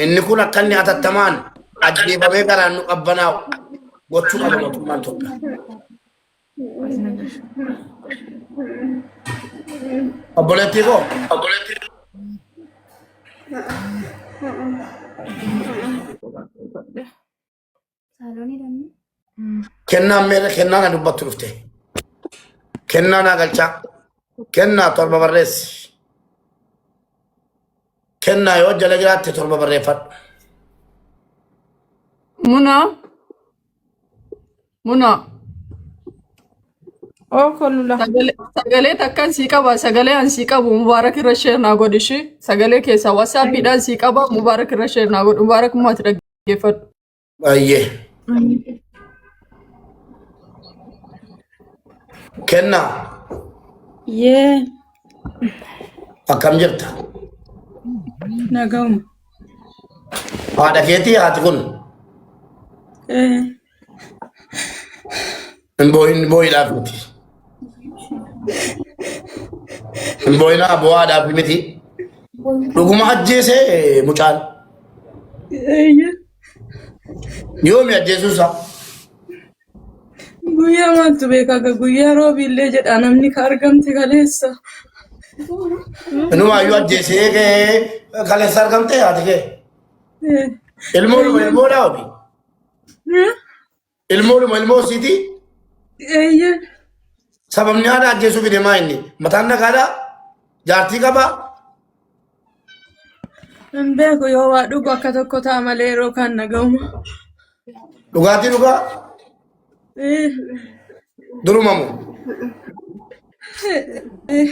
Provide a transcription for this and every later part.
Inni kun akka inni hatattamaan ajjeefamee garaan nu qabbanaa'u gochuu qaba mootummaan Itoophiyaa. Obboleettii koo Saalonii dhamni. Kennaan meeqa kennaa na dubbattu dhufte. Kennaa naa galchaa. Kennaa torba barreessi. Kennaa yoo jala jiraatte torba barreeffadhu. Muna. Muna. Oo kolula. Sagalee sagalee takkan sii qaba. Sagalee an sii qabu Mubaarak irra sheer naa godhi ishii. Sagalee keessaa wasaappiidhaan sii qaba. Mubaarak irra sheer naa godhi. Mubaarak maati dhagge. Dhaggeeffadhu. Ayyee. Kenna Yee akkam jirta? nagahuma. Haadha keetii haati kun? Ee. Hin boo'in boo'idhaaf miti. Hin boo'inaa boo'aadhaaf miti. Dhuguma ajjeesee mucaan Eeyyee. yoomi ajjeesuu isaa. Guyyaa maaltu beeka akka guyyaa roobiillee jedha namni ka argamte kaleessa. Inumaayyuu ajjeesee kee kaleessa argamtee haati kee. Eh, Ilmoo ilmoodhaa ofi. Ilmoodhuma ilmoo isiitii Eeyyee. sababni haadha ajjeesuu fide maa inni mataan nagaadhaa jaartii qabaa Hin beeku yoo waa dhugu akka tokko ta'a malee yeroo kaan nagahuma. dhugaatii dhugaa Eh, durumamu eh, eh.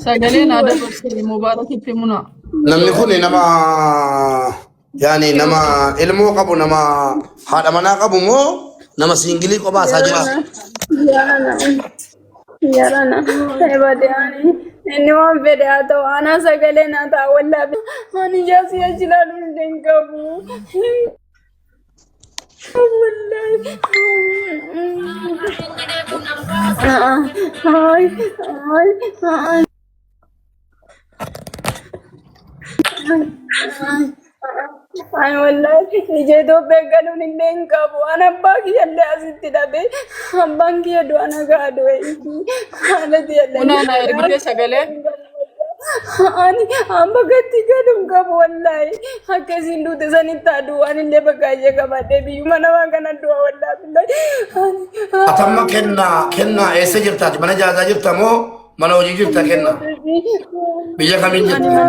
Sagaleen aadaa gorsee mubaarakitti muna. Namni kun nama yaani nama ilmoo qabu nama haadha manaa qabu moo nama siingilii kophaa isaa jira? Yarana ebade ani inni waan fedhe haa ta'u anaa sagalee naa ta'a wallaahi ani jaasii ajilaa dhufte hin qabu hin qabu wallaahi. Ay ay ay ay. Ani wallaahi ija Itoophiyaa galuun illee hin qabu. An abbaa kiyya illee asitti dhabe. Abbaan kiyya du'a nagaa du'e. Haala kiyya illee Una na ergite sagalee. ani amma gatti galu hin qabu wallaahi. Akka isin duute sanitti haa du'u. Ani illee bakka ishee qabaadhee biyyuma namaa kana du'a wallaahi. Ani- Atamma kennaa kennaa eessa jirtaati? Mana jaazaa jirta moo Mana hojii jirta kenna. Biyya kamiin jirta?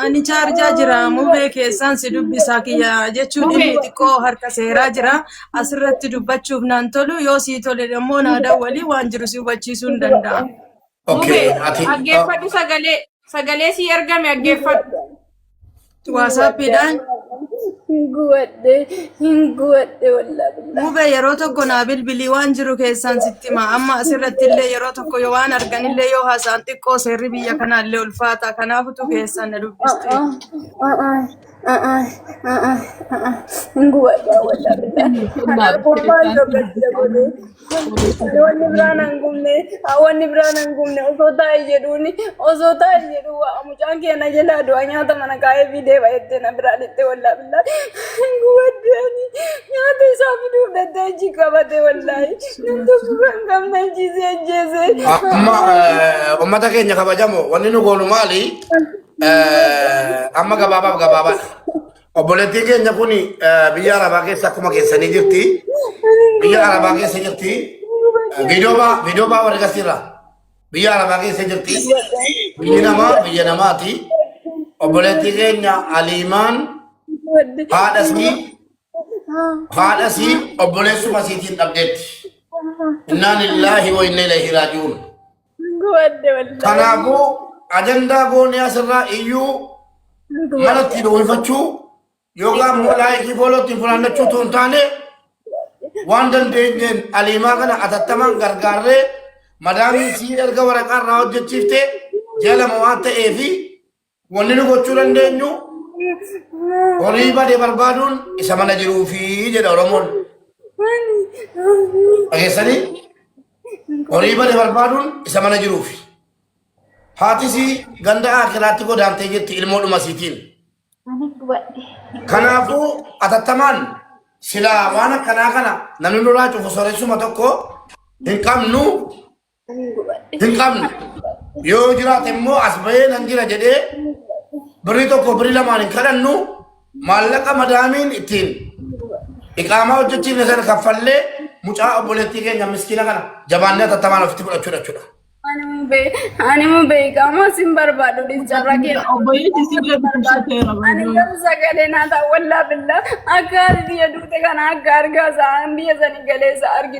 Ani chaarjaa jira mubee keessaan si dubbisaa kiyya jechuun Mubee. inni xiqqoo harka seeraa jira. Asirratti dubbachuuf naan tolu yoo sii tole immoo naa dawwalii waan jiru si hubachiisuu hin danda'a. Okay, Mubee, ati- dhaggeeffadhu sagalee. Sagalee sii ergame dhaggeeffadhu. Waasaappiidhaan Hin guwadhe, hin guwadhe wallaa billaa. Mube yeroo tokko naa bilbilii waan jiru keessaan sitti hima. Amma asirratti illee yeroo tokko yoo waan arganillee yoo haasa'an xiqqoo seerri biyya kanaa illee ulfaata. Kanaafutu keessaan na dubbiste. Hin guwadhe wallaa billaa. Kanaaf gurbaan tokko jabodee. Wanni biraan hin gubne, wanni biraan hin gubne osoo taa'e jedhuuni, osoo taa'e jedhu waa mucaan keenya jalaa du'a nyaata mana kaa'ee fi deeba jettee na biraa dhitte wallaa billaa. Gubaddee ani nyaata isaa fiduuf dhattee achi qabatee wallaahi. Nam tokko kan qabna ajjeesee ajjeesee. Amma eh, ummata keenya kabajamoo wanni nu goonu maali? Eh, Amma gabaabaaf gabaabaadha. Obboleettiin keenya kun biyya Arabaa keessa akkuma keessanii jirti. Biyya Arabaa keessa jirti. Viidiyoo baa viidiyoo baa warri gasiirra. Biyya Arabaa keessa jirti. Biyyi namaa biyya namaati. Obboleettii keenya Aliimaan haadha isii haadha isii obboleessuma isiitiin dhabdeetti. Innaa lillaahi wa inna ilaihi raaji'uun. Guwadde wallahi. Kanaafuu ajandaa goonee asirraa iyyuu mana ittiin uwwifachuu yookaan immoo laayikii fooloo ittiin funaannachuu utuu hin taane waan dandeenyeen aliimaa kana atattamaan gargaarree madaamiin sii erga waraqaa irraa hojjechiifte ji'a lama waan ta'eefi Wanni nu gochuu dandeenyu horii bade barbaaduun isa mana jiruu fi jedha Oromoon. Dhageessanii horii bade barbaaduun isa mana jiruu fi. Haatisii ganda akiraatti godaantee jirti ilmoo dhumasiitiin. Kanaafuu atattamaan silaa waan akkanaa kana namni nurraa cufu sooressuma tokko hin qabnu Ani hin gubadhe. hin qabne yoo jiraate immoo as bahee nan jira jedhee birrii tokko birrii lamaan hin kadhannu maallaqa madaamiin ittiin iqaamaa hojjechiifne sana kaffallee mucaa obboleettii keenya miskiina kana jabaannee tattamaan ofitti fudhachuudha jechuudha. Ani immoo bee- ani immoo beekamaa sin barbaadu dhiisarra keera. Obboleessi si bira dubbisuu kee Ani barbaadu. garuu sagalee naa ta'a wallaa billaa akka biyya duute kana akka argaa isaa biyya sanii galee isaa argina.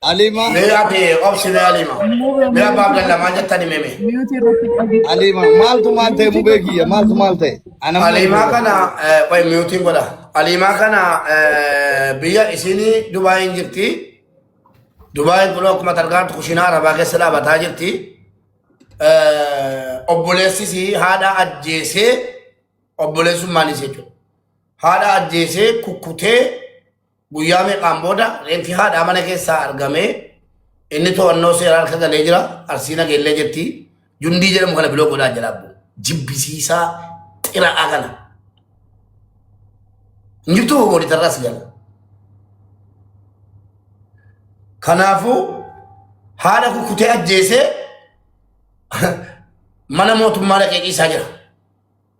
Alima. Me ati obsi me alima. Me abba abdalla ma jattani meme. Alima maaltu maal ta'e mubee kiyya maaltu maal ta'e. Alima kana qoy miyutiin godha. Alima kana biyya isini Dubai hin jirti. Dubai kun akkuma targaantu kushinaa arabaa keessa dhaabataa jirti. Obboleessisi haadha ajjeesee obboleessummaan isa jechuudha. Haadha ajjeesee kukkutee Guyyaa meeqaan booda reenfi haadhaa mana keessaa argamee inni to'annoo seeraa harka galee jira. Arsii nageellee jetti. Jundii jedhamu kana biloo godhaa jalaa bu'u. Jibbisiisaa xira'aa kana. Hin jirtu moolitarraa si jala. Kanaafuu haadha kukkutee ajjeesee mana mootummaa dhaqee ciisaa jira.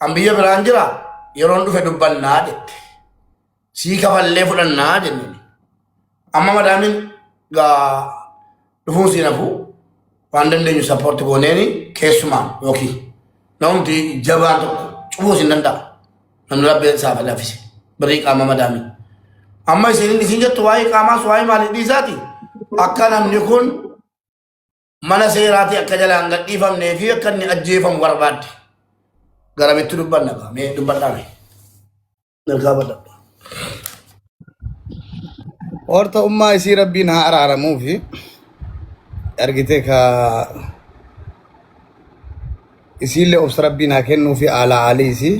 An biyya biraan jira yeroon dhufe dubbannaa jette. Sii kafallee fudhannaa jenneen. Amma madaamin gaa dhufuun siin hafuu waan dandeenyu sappoorti gooneeni keessumaan yookiin namumti jabaan tokko cufuu siin danda'a. Namni rabbeen isaa fi laffise birrii qaama madaamin. Amma isin isin jettu waa'ee qaamaas waa'ee maalii dhiisaati akka namni kun mana seeraatii akka jalaan gadhiifamnee fi akka inni ajjeefamu barbaadde. Garamitti dubbanna kaa mee dubbadhaa mee. Mirgaa badhadha. Horta ummaa isii rabbiin haa araaramuu fi argitee ka isiillee obsa rabbiin haa kennuu fi aalaa aalii isii.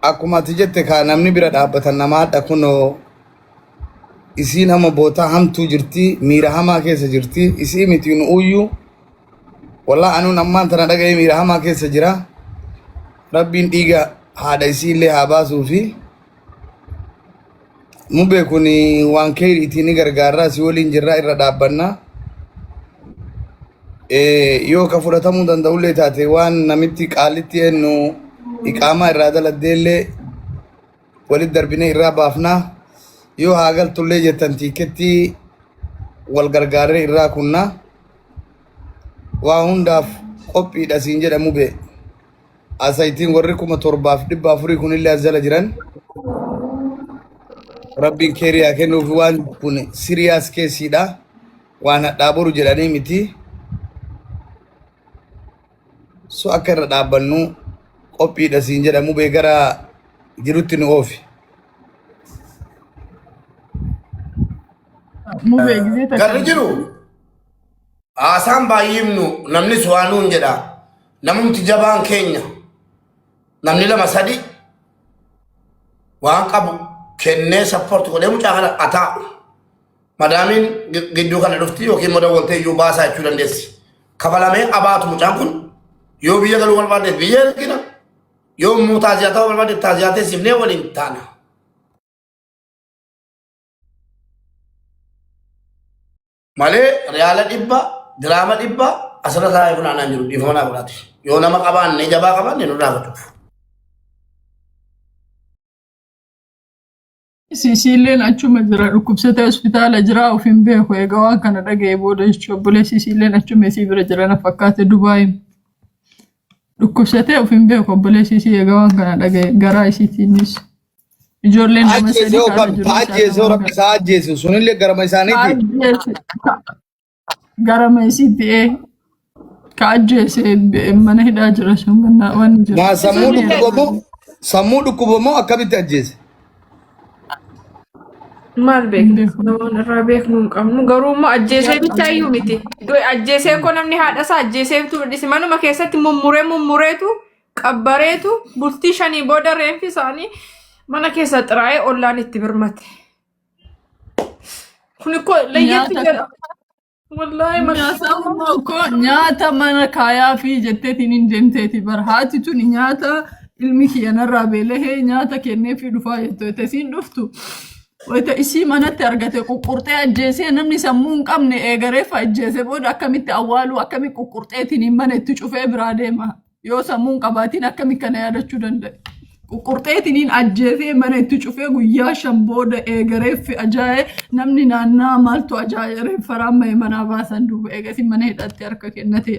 Akkuma ati jette ka namni bira dhaabbatan namaa dha kunoo isiin hama bootaa hamtuu jirtii miira hamaa keessa jirtii isii miti nu uyyuu walaa anuun ammaan tana dhaga'ee miira hamaa keessa jira rabbiin dhiiga haadha isii illee haa baasuu fi mubee kun waan keeriitii ni gargaarraa si waliin jirraa irra dhaabbannaa yoo ka fudhatamuu danda'ullee taate waan namitti qaalitti ennu iqaamaa irraa daladdeellee Walit darbinee irraa baafnaa yoo haa galtullee jettan tiikettii wal gargaarree irraa kunnaa waa hundaaf qophiidha siin jedha mubee. Asaytiin warri kuma torbaaf dhibba afurii kunillee as jala jiran rabbiin keerii haa kennuuf waan kun siriyaas keessiidha waan hadhaa boru jedhanii miti. So akka irra dhaabbannu qophiidha siin jedha mubee gara jirutti nu oofi. Mubee gisee takka. Garri jiru haasaan baay'imnu namnis waa nuun jedha. Namumti jabaan keenya namni lama sadi waan qabu kennee sappoorti godhee mucaa kana ataa. Madaamiin gidduu kana dhufti yookiin immoo dawwaltee iyyuu baasaa jechuu dandeessi. Kafalamee abaatu mucaan kun yoo biyya galuu barbaadeef biyya ergina yoo immoo taaziyaa ta'uu barbaadeef taaziyaa teessifnee waliin taana. Malee riyaala dhibba diraama dhibba asirra taa'ee funaanaa jiru dhiifama naa godhaati. Yoo nama qabaanne jabaa qabaanne nurraa godhuuf. Siisiilleen achuma jira dhukkubsatee hospitaala jira of hin beeku egaa waan kana dhaga'e booda jechuun obboleessi siisiilleen achuma isii bira jira na fakkaate Dubaayiin dhukkubsatee of hin beeku obboleessi isii egaa waan kana dhaga'e garaa isiitiinis ijoolleen nama sadii ajjeesee kaasa ofan jiru haa isaan ajjeesee nama rabbi isaa ajjeesu sunillee garama isaaniiti Ajjeese- Gara meesiitti ee ka ajjeese eh, mana hidhaa jira sun ganna waan jiru. Maa sammuu Isin dhukkuba moo sammuu dhukkuba moo akkamitti ajjeese? Maal Hin beekna? beeku. Namoonni irraa beeknu hin qabnu. Garuu immoo ajjeesee bichaa iyyuu miti. Du'e ajjeesee koo namni haadhasaa ajjeesee bituu dhisi. Manuma keessatti mummuree mummureetu qabbareetu bultii shanii booda reenfi isaanii mana keessa xiraa'ee ollaan itti birmate. Kun koo layyatti Nyaata- jedha. Wallaahi Nyaata mashaa immoo koo nyaata mana kaayaa fi jetteetiin hin deemteeti bara haati tun nyaata ilmi kiyya narraa beelahee nyaata kennee fi dhufaa jettu wayita isiin dhuftu wayita isii manatti argate quqqurxee ajjeesee namni sammuu hin qabne eegareef ajjeese booda akkamitti awwaaluu akkamitti quqqurxeetiin hin mana itti cufee biraa deema. Yoo sammuu hin qabaatiin akkamitti kana yaadachuu danda'e? Ququrxeetiniin ajjeefee mana itti cufee guyyaa shan booda eegareeffi ajaa'ee namni naannaa maaltu ajaa'ee reeffaraan mahe manaa baasan duuba eegasi mana hidhaatti harka kennatee.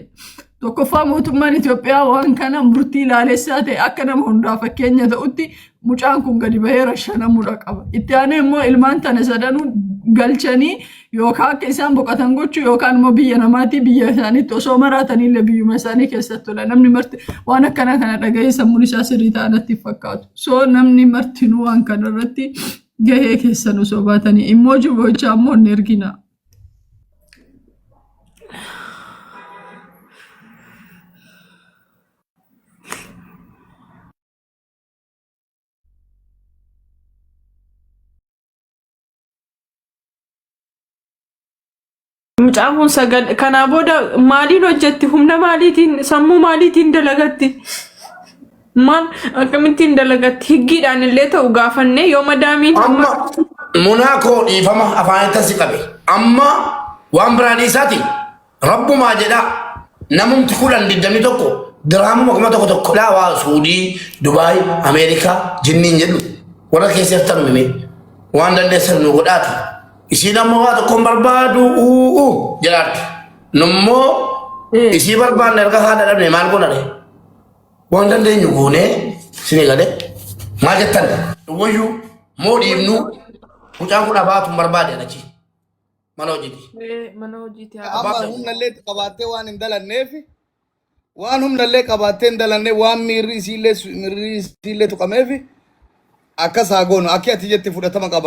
Tokkoffaa mootummaan Itoophiyaa waan kana murtii laalessaa ta'e akka nama hundaa fakkeenya ta'utti Mucaan kun gadi bahee rashanamuudha qaba. Itti aanee immoo ilmaan tana sadanuu galchanii yookaan akka isaan boqotan gochuu yookaan immoo biyya namaatii biyya isaaniitti osoo maraatanillee biyyuma isaanii keessatti tola. Namni marti waan akkanaa kana dhagahee sammuun isaa sirrii ta'anatti fakkaatu. So namni martinuu waan kanarratti gahee keessan osoo baatanii immoo jibochaa immoo hin erginaa. Mucaan kun sagal kanaa booda maaliin hojjetti humna maaliitiin sammuu maaliitiin dalagatti maal akkamittiin dalagatti higgiidhaan illee ta'u gaafannee yoo madaamiin amma munaa koo dhiifama afaanitti si qabe amma waan biraa dhiisaati Rabbumaa jedhaa namumti kudhan digdamii tokko diraamuma kuma tokko tokko dhaa waa Suudii, Dubaay, Ameerikaa jinniin jedhu warra keessa jirtan mimee waan dandeessan nu godhaati. Isiin amma waa tokko hin barbaadu uuu jedhaatti. Nummoo isii barbaanne erga haadha dhabne maal godhane? Waan dandeenyu goonee isinii galee maal jettan? Wayyuu moo dhiibnuu mucaan kun abaatu hin barbaade achi. mana hojiiti. Ee, mana hojiiti haa Abbaa amma Abdul. humna illee itti qabaattee waan hin dalanneef waan humna illee qabaattee hin dalanne waan miirri isiillee su- miirri isiillee tuqameef akkas haa goonu akki ati jetti fudhatama qaba